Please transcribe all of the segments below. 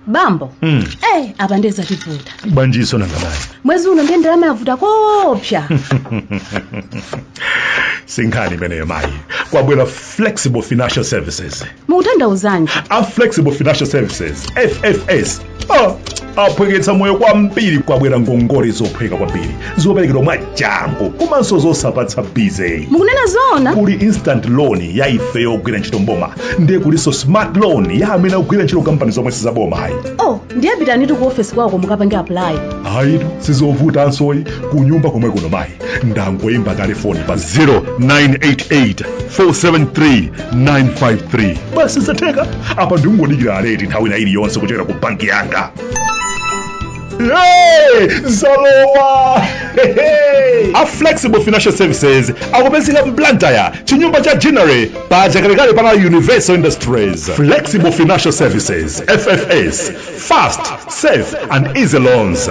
bambo Mm. eh apa nde zativuta bajeti sinangabayi mwezi uno ndiye ndalama yavuta koopsa si nkhani imeneyo mayi kwabwera flexible financial services mukutanthauzanji a flexible financial services ffs Ah, aphweketsa moyo kwambiri kwabwera ngongole zophweka kwambiri zoperekedwa mwa changu komanso zosapatsa busy mukunena zoona kuli instant loan ya ife yogwira ntchito mboma ndiye kulinso smart loan ya amene akugwira ntchito mkampani zomwe sizaboma ayi oh ndiye pitanitu ku ofesi kwawoko mukapange apply ayitu sizovutanso ayi kunyumba komwe kuno mayi ndangoyimba kale foni pa 0988 473 953 basi zatheka apa ndingodikira alert nthawi ina iliyonse kuchokera ku banki yanga Hey, zalowa a flexible financial services akupezeka mblantyre chinyumba cha ginnery pa chakalekale pana universal industries flexible financial services ffs fast safe and easy loans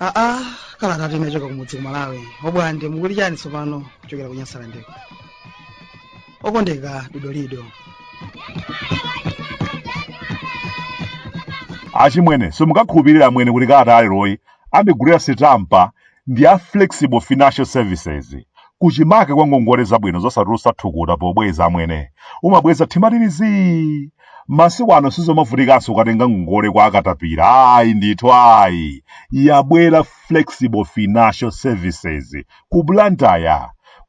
aa kalatatu yachoka kumudzi ku malawi obwande mukuli chani tsopano kuchokera ku nyasalandeko okondeka dodolido achimwene simungakhulupirira amwene kuti kalata yaleroyi andigulira sitampa ndi a flexible financial services kuchimake kwa ngongole zabwino zosatulutsa thukuta pobweza amwene umabweza mtima uli zii masiku ano sizomavutikanso kukatenga ngongole kwa akatapira ayi ndithu ayi yabwera flexible financial services ku blantyre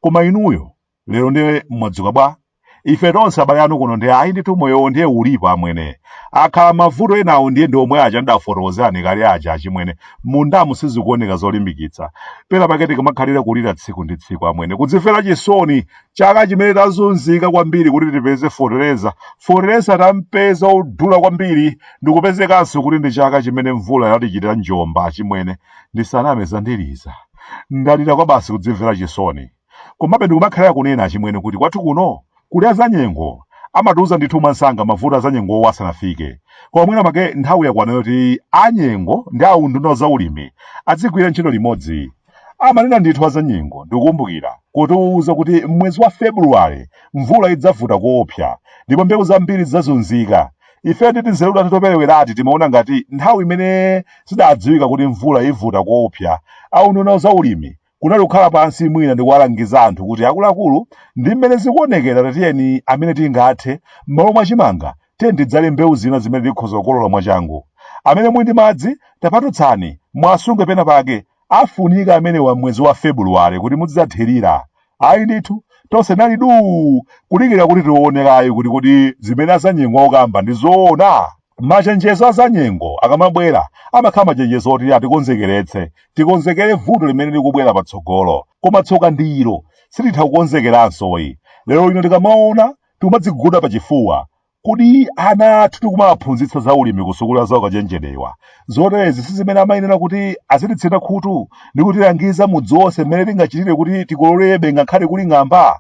koma inuyo lero ndiye mwadzuka bwa ife tonse abale anu kuno ndi ayi ndithu moyowo ndiye ulipo amwene akhala mavuto enawo ndiye ndi omwe aja ndidafotokozerani kale aja achimwene mmundamu sizikuoneka zolimbikitsa pena pake tikumakhalira kulira tsiku ndi tsiku amwene kudzimvera chisoni chaka chimene tazunzika kwambiri kuti tipeze fotereza fotereza tampeza wodula kwambiri ndikupezekanso kuti ndi chaka chimene mvula yatichitira njomba achimwene ndisaname zandiliza ndalira kwabasi kudzimvera chisoni Komabe ndikumakhalira kunena achimwene kuti kwathu kuno kuli azanyengo. Amatiuza ndithu mwansanga mavuto azanyengowo asanafike. Koma mwina make nthawi yakwana yoti a nyengo ndi a unduna wa zaulimi azigwira ntchito limodzi. Amanena ndithu azanyengo ndikukumbukira kutiuza kuti m'mwezi wa February mvula idzavuta koopsa ndipo mbewu zambiri zidzazunzika. Ifeyo ndi tinzeru tathu toperewerati timaona ngati nthawi imene zidadziwika kuti mvula ivuta koopsa, a unduna wa zaulimi kunali kukhala pansi mwina ndikuwalangiza anthu kuti akuluakulu ndi mmene zikuonekera tatiyeni amene tingathe m'malo mwa chimanga tiyeni tidzale mbewu zina zimene tikhoza kukolola mwachangu amene muli ndi madzi tapatutsani mwasunge pena pake afunika amenewa mwezi wa februwale kuti muzidzathirira ayi ndithu tonse tinali duu kudikira kuti tione kaye kuti kodi zimene azanyengo akukamba ndi zoona Machenjezo a zanyengo akamabwera, amakhala machenjezo oti atikonzekeretse, tikonzekere vuto limene likubwera patsogolo. Koma tsoka ndi ilo, sititha kukonzekeranso ayi. Lero lino tikamaona, tikumadziguguda pachifuwa. Kodi ana athu tikumawaphunzitsa za ulimi ku sukulu ya zaukachenjedewa? Zoterezi si zimene amayenera kuti azititsina khutu ndi kutilangiza mudzi wonse mmene tingachitire kuti tikololebe ngakhale kuli ng'amba?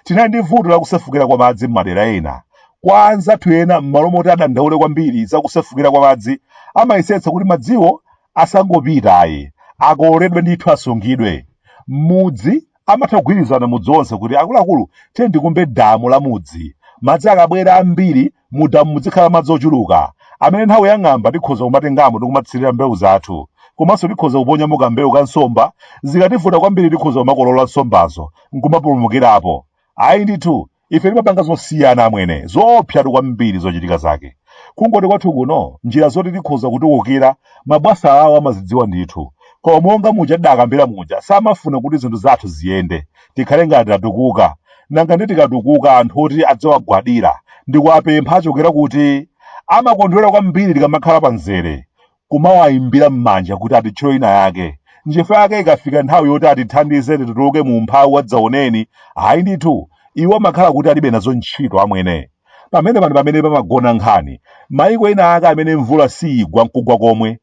Tinali ndi vuto la kusefukira kwa madzi m'madera ena. Kwa anzathu ena, m'malo moti adandaule kwambiri za kusefukira kwa madzi, amayesetsa kuti madziwo asangopita ayi, akololedwe ndithu asungidwe. M'mudzi, amatha kugwirizana mudzi wonse kuti, Akuluakulu, tiyeni tikumbe damu la mudzi. Madzi akabwera ambiri, Mu damu muzikhala madzi ochuluka amene nthawi ya ng'amba tikhoza kumatengamo ndi kumathirira mbewu zathu. Komanso tikhoza kuponyamo kambewu ka nsomba, zikativuta kwambiri tikhoza kumakolola nsombazo n'kumapulumukirapo. Ayi ndithu, ife timapanga zosiyana amwene, zoopsatu kwambiri zochitika zake. Kungoti kwathu kuno, njira zoti tikhoza kutukukira, mabwasa awo amazidziwa ndithu. Koma monga muja tidakambira muja, samafuna kuti zinthu zathu ziyende. tikhale ngati tatukuka nanga ndi tikatukuka anthu oti adzawagwadira ndi kuwapempha achokera kuti? amakondwera kwambiri tikamakhala pa mzere kumawayimbira m'manja kuti atitchito ina yake nchifukwa yake ikafika nthawi yoti atithandize tituluke mu umphawi wadzaoneni ayi ndithu iwo amakhala kuti alibe nazo ntchito amwene pamene pano pamene pamagona nkhani maiko ena ake amene mvula siyigwa nkugwa komwe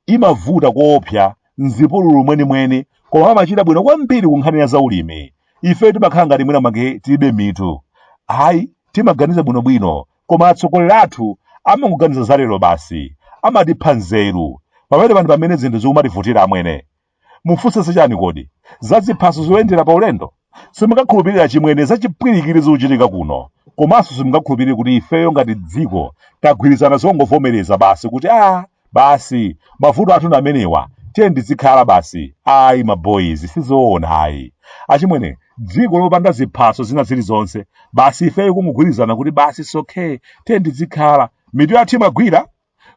imavuta koopsa m'zipululu mwenimweni koma amachita bwino kwambiri ku nkhani ya zaulimi ife timakhala ngati mwina make tilibe mitu ayi timaganiza bwinobwino koma atsogoleri athu amangoganiza za lero basi amatipha nzeru pamene pano pamene zinthu zikumativutira amwene mufunse zachani kodi za ziphaso zoyendera pa ulendo simungakhulupirira chimwene za chipwirikiti zikuchitika kuno komanso simungakhulupirire kuti ifeyo ngati dziko tagwirizana zongovomereza basi kuti a basi mavuto athu ndi amenewa tiyeni tizikhala basi ayi maboyizi sizoona ayi achimwene dziko lopanda ziphaso zina zilizonse basi ifeyo kungogwirizana kuti basi sokhe tiyeni tizikhala mitu yathu imagwira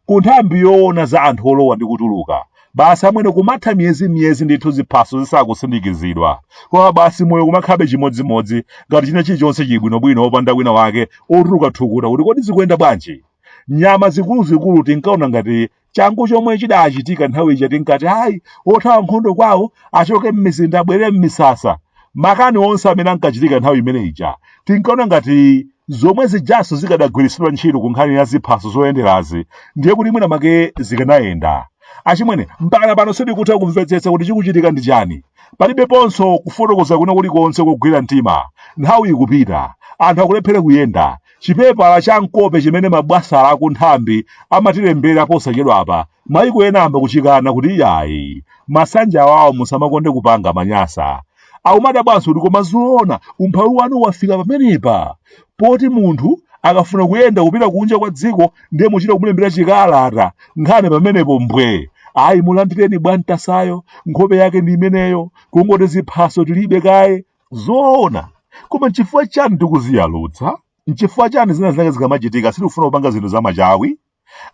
ku nthambi yoona za anthu olowa ndi kutuluka basi amwene kumatha miyezi miyezi ndithu ziphaso zisakusindikizidwa koma basi moyo kumakhabe chimodzimodzi ngati china chilichonse chili bwinobwino opanda wina wake otuluka thukuta kuti kodi zikuyenda bwanji nyama zikuluzikulu tinkaona ngati changu chomwe chidachitika nthawi ija tinkati ayi othawa nkhondo kwawo achoke m'mizinda abwerere m'misasa makani onse amene ankachitika nthawi imene ija tinkaona ngati zomwe zijanso zikadagwiritsidwa ntchito ku nkhani ya ziphaso zoyenderazi ndiye kuti mwina make zikanayenda achimwene mpakana pano sindikutha kumvetsetsa kuti chikuchitika ndi chani palibeponso kufotokoza kwina kulikonse kogwira mtima nthawi ikupita anthu akulephera kuyenda Chipepala cha m'kope chimene mabwasala aku nthambi amatilembera posachedwapa maiko ena ayamba kuchikana kuti iyayi masanje awawa musamakonde kupanga manyasa. Akumadabwanso kuti koma zoona umphawi wanu wafika pamenepa poti munthu akafuna kuyenda kupita kunja kwa dziko ndiye muchita kumulembera chikalata nkhani pamenepo mbwe. Ayi mulandireni bwantasayo nkhope yake ndi imeneyo kungoti ziphaso tilibe kaye zoona koma nchifukwa chani tikudziyalutsa nchifukwa chani zina zake zikamachitika sitikufuna kupanga zinthu zamachawi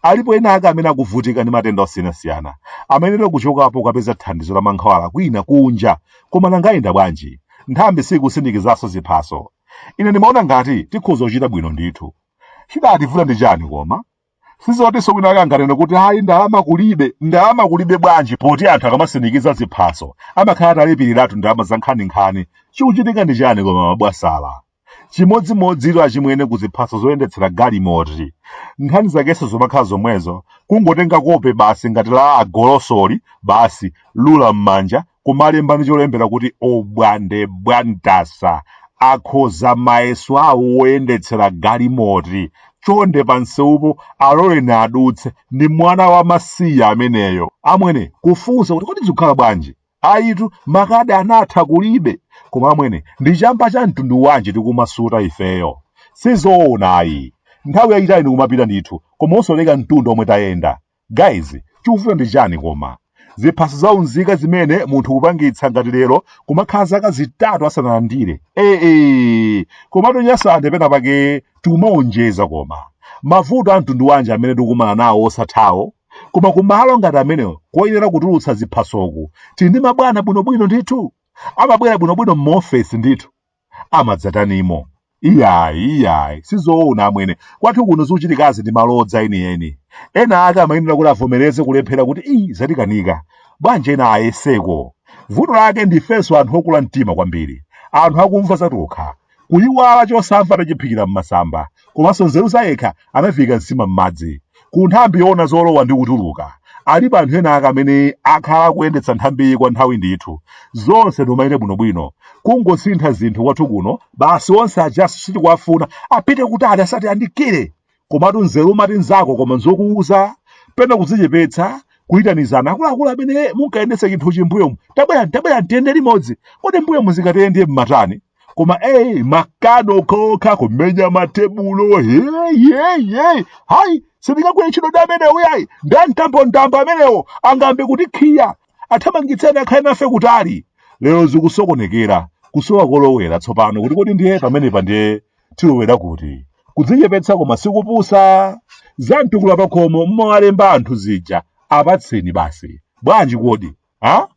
alipo ena ake amene akuvutika ndi matenda osiyanasiyana amayenera kuchokapo kukapeza thandizo la mankhwala kwina kunja koma nanga ayenda bwanji nthambi sikusindikizanso ziphaso ine ndimaona ngati tikhoza kuchita bwino ndithu chidativuta ndi chani koma sizotinso wina ake anganene kuti ayi ndalama kulibe ndalama kulibe bwanji poti anthu akamasindikiza ziphaso amakhala atalipiriratu ndalama za nkhaninkhani chikuchitika ndi chani koma mabwasala chimodzimodzito achimwene ku ziphaso zoyendetsera galimoti nkhani zakenso zomakhala zomwezo kungotenga kope basi ngati la agolosoli basi lula m'manja kumalemba ndi cholembera kuti obwande bwantasa akhoza mayeso awo woyendetsera galimoti chonde pamsewupo aloleni adutse ndi mwana wa masiye ameneyo amwene kufunsa kuti kodi zikukhala bwanji ayitu makadi anatha kulibe koma amwene ndi chamba cha mtundu wanji tikumasuta ifeyo sizoona ayi nthawi yayitali ndikumapita ndithu koma osaoneka mtunda omwe tayenda Guys chikuvuta ndi chani koma? Ziphaso za unzika zimene munthu kupangitsa ngati lero kumakhala zaka zitatu asanalandire. Eee, komatu nyasande pena pake tikumawonjeza koma. Mavuto a mtundu wanji amene tikumana nawo osathawo? Koma kumalo ngati amenewo koyenera kutulutsa ziphasoku tili ndi mabwana bwinobwino ndithu. Amabwera bwinobwino m'maofesi ndithu. amadzatanimo iyayi iyayi sizoona amwene kwathu kuno zikuchitikazi ndi malodza enieni ena ake amayenera kuti avomereze kulephera kuti ayi zatikanika bwanji ena ayeseko vuto lake ndifenso anthu okula mtima kwambiri anthu akumva zatokha kuyiwala chosamva atachiphikira m'masamba komanso nzeru zayekha anaviika nsima m'madzi ku nthambi yoona zolowa ndi kutuluka alipo anthu ena ake amene akhala akuyendetsa nthambiyi kwa nthawi ndithu zonse nkumayenda bwinobwino kungosintha zinthu kwathu kuno basi onse aja sitikuwafuna apite kutali asati ayandikire komatu nzeru umati nzako koma nzokuuza pena kudzichepetsa kuyitanizana akuluakulu amene munkayendetsa chinthu chimbuyomu tabwerani tabwerani tiyende limodzi kodi mbuyomu zikati ndiye mmatani koma eyi makani okhaokha kumenya matebulo heyeyeyi hayi sindingagwire ntchito ndi amenewo yayi ndi a mtambomtambo amenewo angambe kutikhiya athamangitseni akhale nafe kutali lero zikusokonekera kusowa kolowera tsopano kuti kodi ndiye pamenepa ndiye tilowera kuti kudzichepetsa koma sikupusa za mtukula pakhomo mmawalemba anthu zija apatseni basi bwanji kodi ha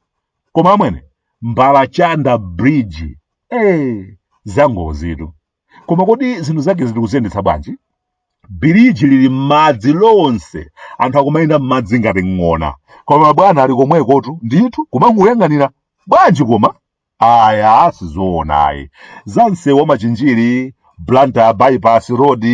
koma amwene mbala chanda bridge eh zangozitu koma kodi zinthu zake muli kuziyendetsa bwanji biriji lili m'madzi lonse anthu akumayenda m'madzi ngati ng'ona koma mabwana ali komwekotu ndithu kumangoyang'anira bwanji koma ayi sizoonayi za msewu wa machinjiri blantyre bypass road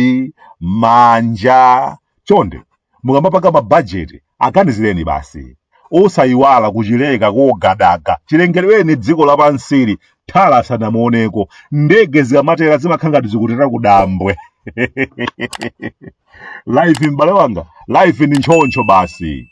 manja chonde mukamapanga mabajeti aganizireni basi osayiwala kuchileka kogadaga chilengedweni dziko lapansili tala sanamuoneko ndege zikamatera zimakhala ngati zikutera kudambwe life m'bale wanga life ni ntchoncho basi